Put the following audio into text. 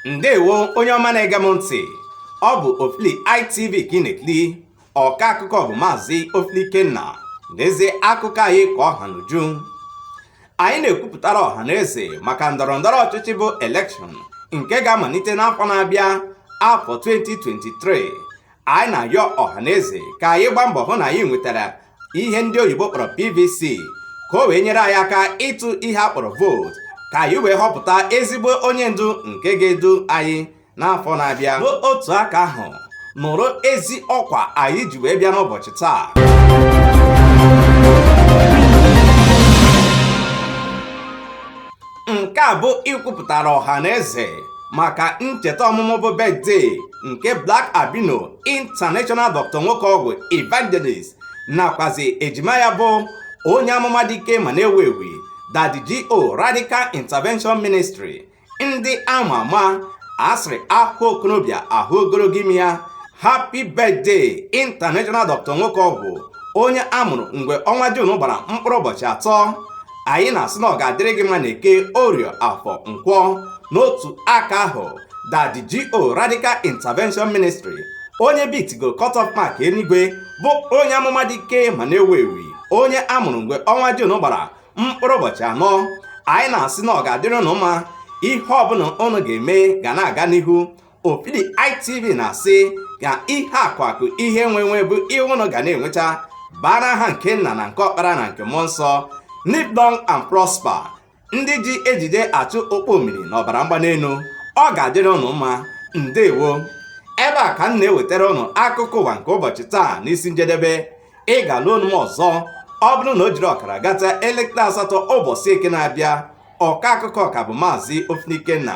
ndewo onye ọma na-ege m ntị ọ bụ ofili itv ka ị na-ekiri ọka akụkọ bụ maazị ofili ikenna n'ezie akụkọ anyị ka ọ ha n'uju anyị na-ekwupụtara ọha na eze maka ndọrọ ndọrọ ọchịchị bụ elekshọn nke ga-amalite n'afọ na-abịa afọ 2023 anyị na-ayọ ọha na eze ka anyị gbaa mbọ hụ na anyị nwetara ihe ndị oyibo kpọrọ PVC ka o wee nyere anyị aka ịtụ ihe a kpọrọ vootu ka anyị wee họpụta ezigbo onye ndu nke ga-edu anyị n'afọ na-abịa n'otu aka ahụ nụrụ ezi ọkwa anyị ji wee bịa n'ụbọchị taa nke a bụ ikwupụtara ọha na eze maka ncheta ọmụmụ bụ birthday nke Black Albino International Dr. Nwokeọgwụ Evangelist nakwazi ejima ya bụ onye amụma dị ike ma na-ewu ewu Daddy GO Radical Intervention Ministry ndị ama ama a sịrị a hụ okorobịa a hụ ogologo imi ya happy birthday international doctor nwoke ọgwụ onye a mụrụ mgbe ọnwa jun gbara mkpụrụ ụbọchị atọ anyị na-asị na ọ ga-adịrị gị mma n'eke orie afọ nkwọ n'otu aka ahụ daddy GO radical intervention ministry onye bitigo cut off mark enuigwe bụ onye amụma dị ike ma na-ewu ewu onye a mụrụ mgbe ọnwa Jun gbara mkpụrụ ụbọchị anọ anyị na-asị na ọ ga-adịrị ụnụ mma ihe ọbụla ụnụ ga-eme ga na-aga n'ihu Ofili ITV na-asị ka ihe akụ akụ ihe enwe enwe bụ ihe ụnụ ga na-enwecha bara aha nke nna na nke ọkpara na nke mmụọ nsọ live long and prosper ndị ji ejije achụ okpo omiri na ọbara mgbanelu ọ ga-adịrị ụnụ mma ndewo ebe a ka m na-ewetara ụnụ akụkọ ụwa nke ụbọchị taa n'isi njedebe ị ga-anụ onu m ọzọ ọ bụrụ na o jiri ọkara gata elekere asatọ ụbọchị eke na-abịa ọka akụkọ ka bụ maazị Ofili Ikenna